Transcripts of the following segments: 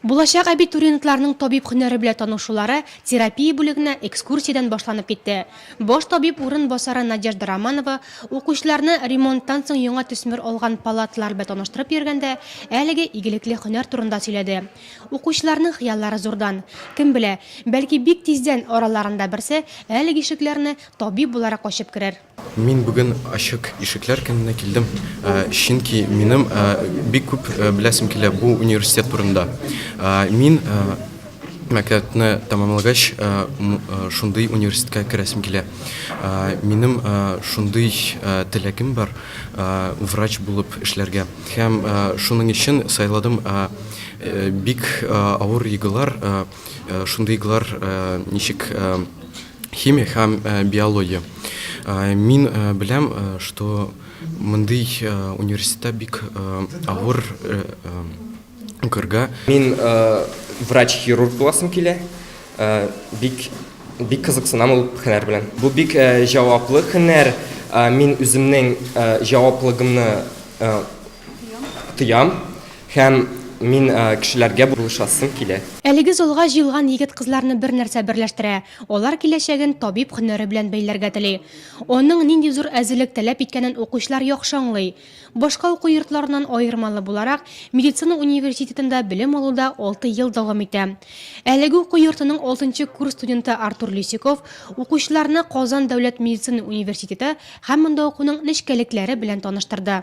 Булачак абитуриентларның табиб һөнәре белән танышулары терапия бүлегенә экскурсиядән башланып китте. Баш табиб урын басары Надежда Романова укучыларны ремонттан соң яңа төсмер алган палаталар белән таныштырып йөргәндә, әлеге игелекле һөнәр турында сөйләде. Укучыларның хыяллары зурдан. Кем белә, бәлки бик тиздән араларында берсе әлеге ишекләрне табиб буларак ачып керер. Мин бүген ачык ишекләр көненә килдем, чөнки минем бик күп беләсем килә бу университет турында. Мин мәктәпне тәмамлагач, шундый университетка керәсем килә. Минем шундый теләгем бар, врач булып эшләргә. Һәм шуның өчен сайладым. Бик авыр игылар, шундый игылар ничек Химия һәм биология. Мин беләм, что мондый университетта бик авыр укырга. Мин врач-хирург буласым килә. Бик бик кызыксынам ул һөнәр белән. Бу бик җаваплы һөнәр. Мин үземнең җаваплыгымны тоям. Һәм мин кешеләргә булышасым килә. Әлеге залга җыелган егет-кызларны бер нәрсә берләштерә, алар киләчәген табиб һөнәре белән бәйләргә тели. Аның нинди зур әзерлек таләп иткәнен укучылар яхшы аңлый. Башка уку йортларыннан аермалы буларак, медицина университетында белем алу да алты ел дәвам итә. Әлеге уку йортының алтынчы курс студенты Артур Лисюков укучыларны Казан дәүләт медицина университеты һәм монда укуның нечкәлекләре белән таныштырды.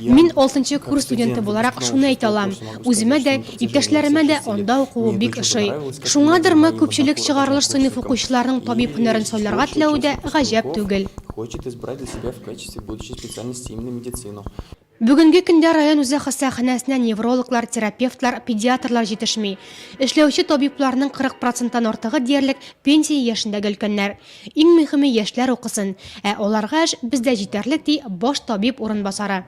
Мин алтынчы курс студенты буларак шуны әйтә алам, үземә дә, иптәшләремә дә анда укуы бик ошый. Шуңадырмы, күпчелек чыгарылыш сыйныф укучыларның табиб һөнәрен сайларга теләве дә гаҗәп түгел. Бүгенге көндә район үзәк хастаханәсенә неврологлар, терапевтлар, педиатрлар җитешми. Эшләүче табибларның 40 проценттан артыгы диярлек пенсия яшендәге өлкәннәр. Иң мөһиме яшьләр укысын, ә аларга эш бездә җитәрлек, ди баш табиб урынбасары.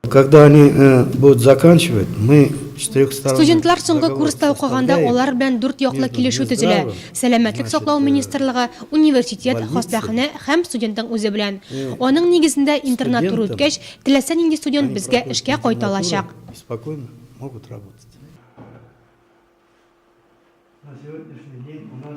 Когда они э, будут заканчивать, мы Студентлар соңгы курста укыганда алар белән дүрт яклы килешү төзелә. Сәламәтлек саклау э, министрлыгы, университет, хастаханә һәм студентның үзе белән. Э, Аның нигезендә интернат туры үткәч, теләсә нинди студент безгә эшкә кайта алачак. Спокойно могут работать. На сегодняшний день у нас